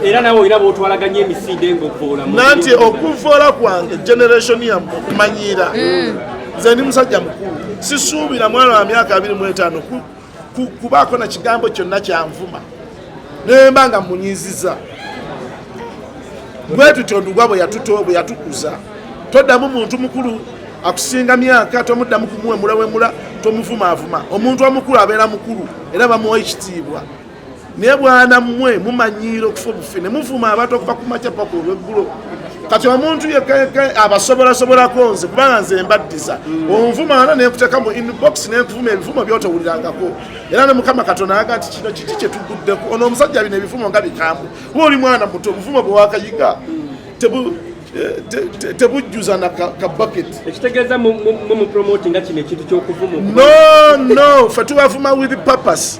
era nawe olina bwotwalaganya emisinde ngaovvoola nanti okuvvoola kwange generation yamu okumanyiira mm. nze ndi musajja mukulu sisuubira mwana wa myaka abiri mu etaano kubaako na kigambo kyonna kyanvuma nemba nga munyiziza bwe tutyo ndugwa bwe yatuto bwe yatukuza toddamu muntu mukulu akusinga myaka tomuddamu kumuwemulawemula tomuvumaavuma omuntu omukulu abeera mukulu era bamuwa ekitiibwa naye bwana mmwe mumanyiira okufa obufi ne muvuma abantu okuva ku makya paka olweggulo kati omuntu yekeke abasobolasobolako nze kubanga nze mbaddiza mm. onvuma ana nenkuteka mu inbox nenkuvuma ebivumo byotowulirangako era ne mukama katonda ayaga nti kino kiki kyetuguddeko ono omusajja bino ebivumo nga bikambu we oli mwana muto obuvumo bwewakayiga mm. eh, tebujjuza na kabaket ekitegeeza mumupromotinga kino ekintu kyokuvuma no no fe tubavuma with purpose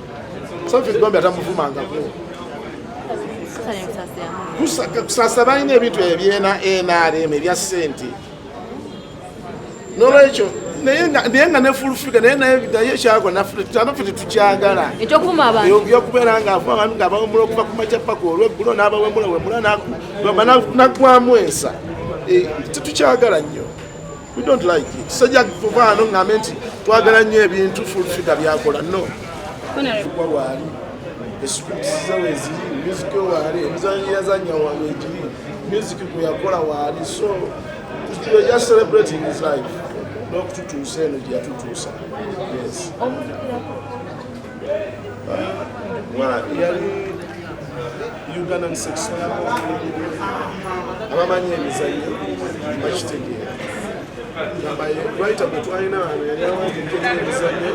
kusasa balina ebintu ebyena nrm ebya sente nolwekyo naye nga ne full figure naye naye naye kyagwa nafe tetukyagala okubeera nga afu abantu nga abawemula okuva ku makya paka olweggulo n'abawemula wemula nagwamu ensa eh, tetukyagala nnyo We don't like it. Sajja kuvaano ng'ambe nti twagala nnyo ebintu full figure byakola no kuba waali esikutusiza weziri music waali emizanyo yazanya waali egiri music gwe yakola waali so we are just celebrating his life n'okututuusa eno gye yatutuusa yes Ugandan sex abamanyi emizannyo bakitegeera lwayita gwe twalina wano yali awanjekera emizannyo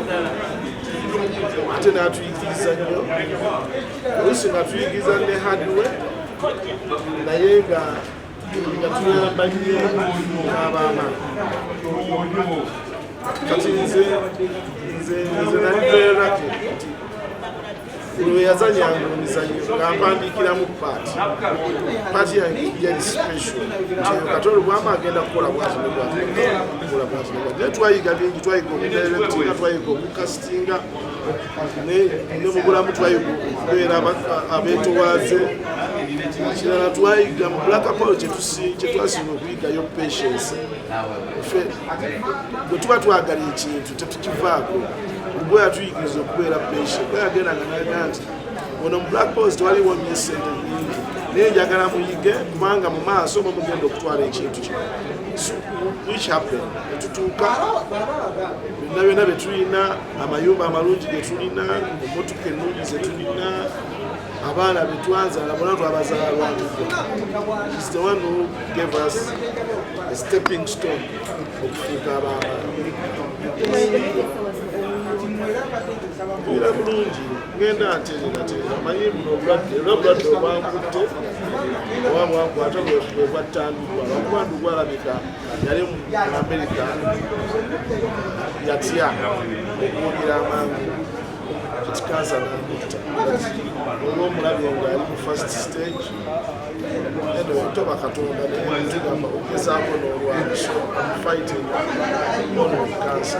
ate n'atuyigiriza nnyo oluusi nga tuyigiriza ne hadiwe naye nga kati nze nze nze nali very lucky yazanya emizanyo ngampandikiramu paati paati yange yali special nti kati olubwama agenda kukola bwatinebwatinebwatinaye twayiga bingi twayiga omudirectinga twayiga omukasitinga ne mu bulamu twayiga okubeera abeetowaaze kirala twayiga mu black apollo kyetwasinga okuyigayo patience fe bwe tuba twagala ekintu tetukivaako ubwo yatuyigiriza okubeera patient bwe yagendanga naga nti ono mu black post waliwo nyo esente nyingi naye njagala muyige kubanga mu maaso oba mugenda okutwala ekintu kino which happen etutuuka byonna byonna byetulina amayumba amalungi ge tulina emmotoka ennungi ze tulina abaana be twazaala bona twabazaalwakisitewanu gave us a stepping stone okufuuka abaana era bulungi ngenda ntereerateera manyi buno obulwadde era obulwadde obwankutte oba bwankwata bwebwattandikwa lwakuba ndugwalabika yali mu amerika yatya okuwulira amangu kati kansa namutta olwo omulabi nga ali mu first stage eno toba katonda naye nzigamba okugezaako n'olwabso fighting ono kansa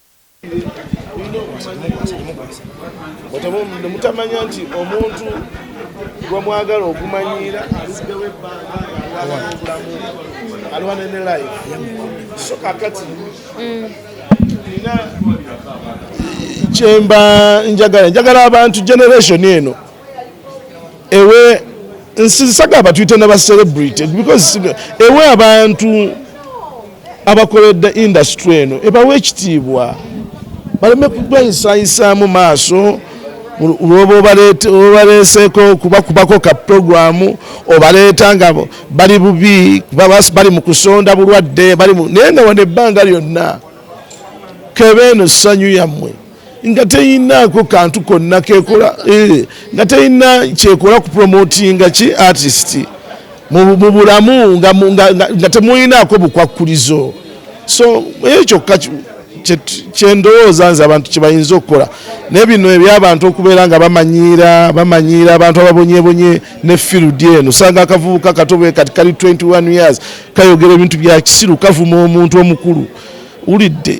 mutamanya nti omuntu gwe mwagala okumanyiira aluddewo ebbanga alwana obulamu alwana ne life so kakati mm. nina kyemba njagala njagala abantu generation eno ewe nsisagamba tuyite na bacelebrity because ewe abantu abakoledde industry eno ebawa ekitiibwa baleme kubayisayisaamu maaso lwoba obaleeseeko okubakubako ka puroguramu obaleeta nga bali bubi bali mu kusonda bulwadde naye nga wano ebbanga lyonna kebe eno ssanyu yammwe nga teyinaako kantu konna kekola eh, nga teyina kyekola ku promotinga ki artist mu bulamu nga temuyinaako bukwakkulizo so eyo kyokka kyendowooza nze abantu kyebayinza okukola naye bino ebyabantu okubeera nga bamanyiira bamanyiira abantu ababonyebonye ne field eno sanga akavubuka katobe kati kali 21 years kayogera ebintu byakisiru kavuma omuntu omukulu ulidde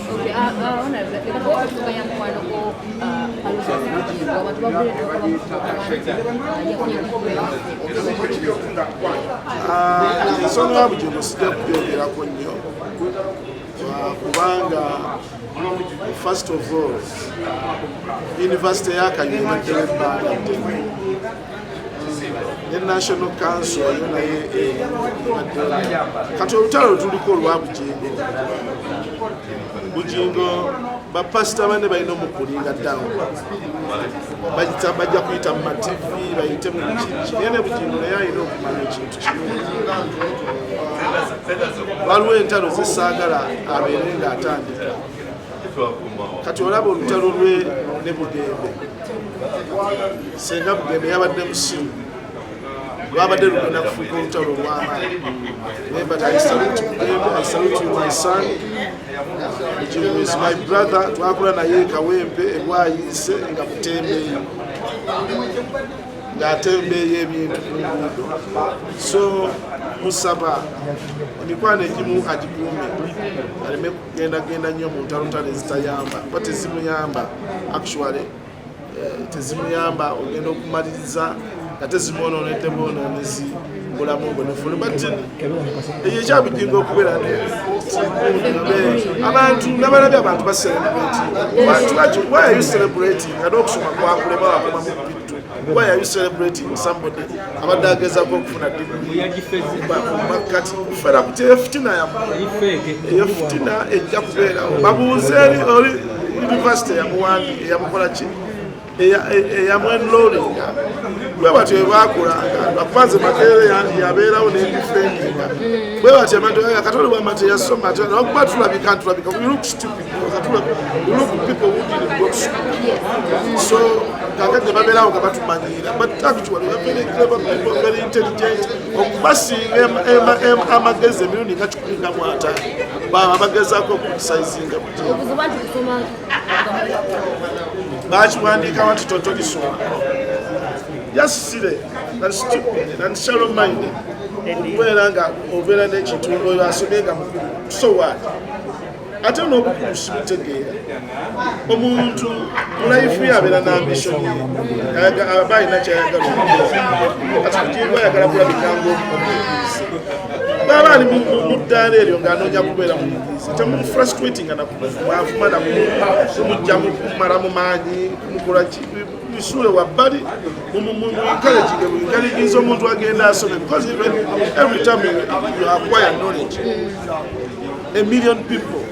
ensonga ya bugingo sijja kubyongerako nnyo kubanga first of all university yakanyuma tewebbanga ne national council yo naye eh, kati olutalo lutuliko olwa bugingo bugingo bapasita bane balina omukulinga down bajja kuyita mu matv bayite mu kiki naye ne bugingo naye alina okumanya ekintu kimu waliwo entalo zesaagala abeere ng'atandika kati olaba olutalo lwe ne bugembe senga bugembe yabadde musimu lwabadde lugenda kufuuka olutalo olwamaani my brother twakula naye kawempe ebwayise nga butembeeyo ng'atembeeyo ebintu ku nguudo so musaba emikwano egimu agikuume aleme genda genda nnyo mu ntalotalo ezitayamba kuba tezimuyamba actually eh, tezimuyamba ogenda okumaliriza nga tezimwonoonedde bwonoonezi bulamu obwo nefulu but eyo ekyabujinga okubeera abantu nabalabye abantu bacelebrate bantu baki why are you celebrating nga n'okusoma kwakulema wakoma mu bittu why are you celebrating somebody abadde agezaako okufuna dimumakkati kufera kuti eyo fitina yamu eyo fitina ejja kubeerawo babuuze eri oli yunivasite eyamuwandi eyamukola ki eyamwenlolinga bwe batyo ebakulanga bakubanze makeere yabeerawo nendifeninga bwe batyo abantu katonda bwamate yasoma nakuba tulabika ntulabika kakati nebabeerawo nga batumanyiira but actually we're very clever people very intelligent okubasinga amagezi emirundi nga kikumi nga mwataano baba bagezaako okutisaizinga bakiwandiikawo nti totolisoma yasisire and stupid and shallow minded okubeera nga obeera n'ekintu oyo asomye nga mukulu so what ate n'obukulu sibutegeera omuntu mulaifu yabeera nambisoni aba alina kyayagala ati kutiibwa ayagala kulabika ngaomuyizi baba ali muddaala eryo ng'anoonya kubeera muyizi temumufrustratinga nakumwavuma nakumujja mukumala mu maanyi kumukola kisuule wabbali mumwinkalejige mwinkalejinza omuntu agenda asome because even every time you acquire knowledge A million people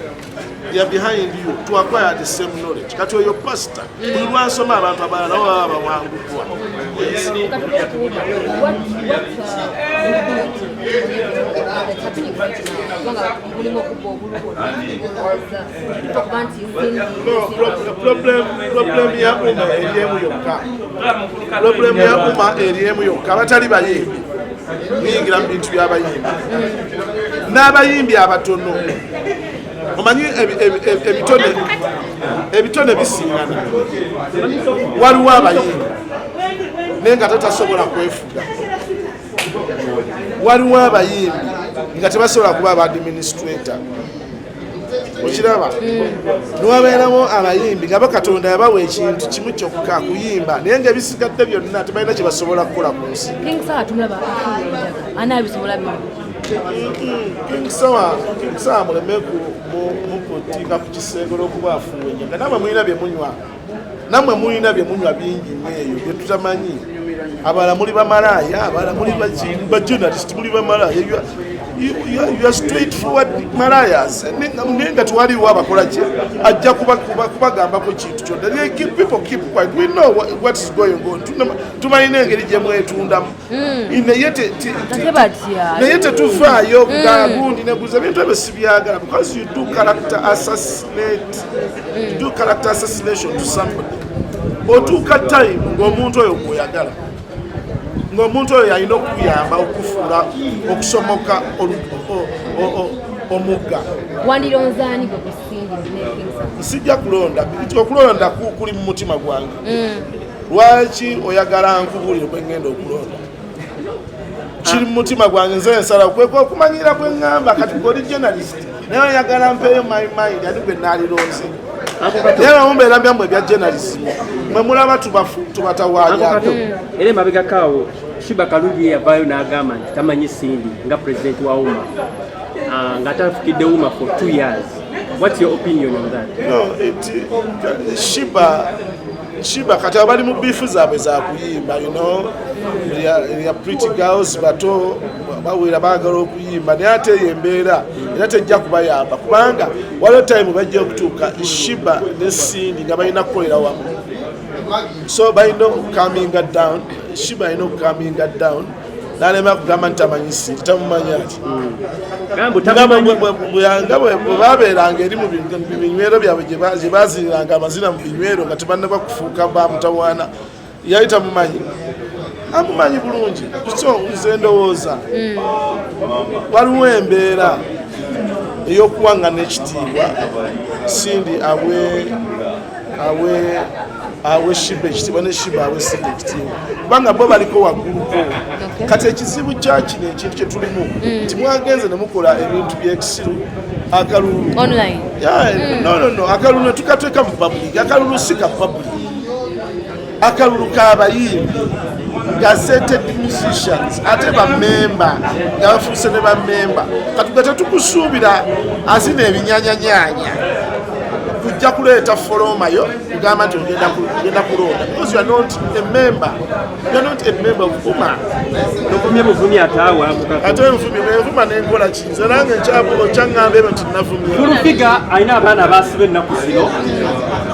they are behind you to acquire the same knowledge. Kati oyo pastor buli lwansoma abantu abalala nabo baba bawanguddwa. Problemu ya umma eri emu yokka, problemu ya umma eri emu yokka, abatali bayimbi biyingira mu bintu by'abayimbi n'abayimbi abatono omanyi ebitone ebitone bisingana waliwo abayimbi naye nga tatasobola kwefuga waliwo abayimbi nga tebasobola kuba abadministrator okiraba niwabeerawo abayimbi nga bakatonda yabawa ekintu kimu kyokka kuyimba naye nga ebisigadde byonna tebalina kyebasobola kukola ku nsi mulemeku mukutinga ku kisenge olwokuba afuunya nga naaba mulina byemunywa namwe mulina byemunywa bingi nyeeyo byetutamanyi abala muli bamalaaya abala muli bajournalist muli bamalaaya your straight forward malayas naye nga twaliwo abakolaki ajja kubagambako kintu kyonna people keep quiet we know what is going on tumanyi n'engeri gyemwetundamu hmm. naye tetuvaayo hmm. nga gundi neguza ebintu ebyo sibyagala because you do character assassinate hmm. do character assassination to somebody otuuka time ngaomuntu oyo gweoyagala ngaomuntu oyo yalina okuyamba okufuula okusomoka omugga wandironzaani gwe kusindi nsijja kulonda okulonda kuli mu mutima gwange lwaki oyagala nkubuulire kwe ŋŋenda okulonda kiri mu mutima gwange nze nsala kweka okumanyira kwe ŋŋamba kati gwe oli journalist naye oyagala mpeeyo my mind ani gwe naalironze naye bamumbeera byamu ebya journalism mwe mulaba tubatawalyato era emabegakaawo shiba kalungi yeyavaayo n'agamba nti tamanyi sindi nga president wa uma ah, nga tafukidde uma for two years what's your opinion on that no, it, shiba Shiba kati abali mu bifu zaabwe za kuyimba you know ya pretty girls bato bawera baagala okuyimba naye ate eyo embeera era tejja kubayamba kubanga waliwo time bajja okutuuka shiba ne sindi nga balina kukolera wamu so balina okukaminga down shiba alina okukaminga down nalema kugamba nti tamanyi siri tamumanya ati buyanga bwebabeeranga eri mubinywero byabwe gyebaziniranga amazina mu binywero nga tebannaba kufuuka bamutawaana yali tamumanyi amumanyi bulungi so nze ndowooza hmm. waliwo embeera eyokuwangana ekitiibwa sindi awe awe awe shiba ekitiibwa ne shiba awe sida ekitiibwa kubanga bo baliko wagguluko kati ekizibu kyakino ekintu kyetulimu mm. nti mwagenze nemukola ebintu byekisiru akalulu mm. nonono akalulu netukatweka mu public akalulu si ka public akalulu kabayimbi gazeted musicians ate bamemba nga bafuuse ne bamemba katuga tetukusuubira azina ebinyanyanyanya kujja kuleeta folomayo kugamba nti ogenda kulonda because you are not a member you are not a member of uma tuvumye buvumi ataawa ate nvumi nenvuma nenkola ki nze nange nkyaŋŋamba ebyo nti navumye fulufiga alina abaana abaasiba ennaku zino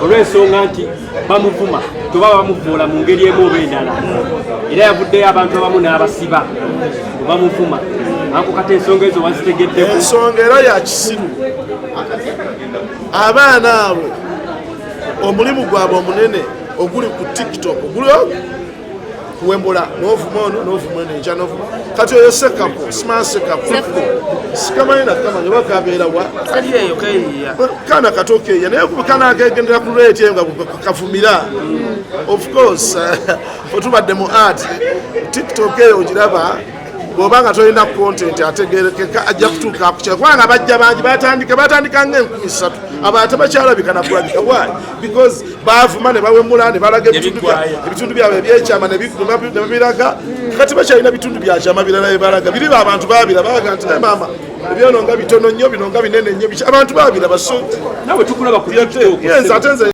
olw'ensonga nti bamuvuma toba bamuvuula mu ngeri emu oba endala era yavuddeyo abantu abamu n'abasiba bamuvuma anko kati ensonga ezo wazitegeddeko ensonga era yakisiru abaana abo omulimu gwabwe omunene oguli ku tiktok oguli kuwembola novuma ono novuma ono enkya novuma kati oyo sekapo simaa sekapo sikamanyi nakamanya oba kabeera wa kana kati okeya naye kana akegendera ku rate eyo nga kavumira mm. of course otubadde mu art tiktok eyo ogiraba bwoba nga tolina kontenti ategerekeka ajja kutuuka kukyala kubanga bajja bangi batandika batandika nga enkumi satu abantu bakyalabika nakulabika why because bavuma ne bawemula ne balaga ebitundu byabwe ebyekyama nebiraga kati bakyalina bitundu byakyama birala bebalaga biri abantu babira balaga nti naye maama ebyono nga bitono nnyo bino nga binene nnyo abantu babira baso nawe tukulaba ku yenze ate nze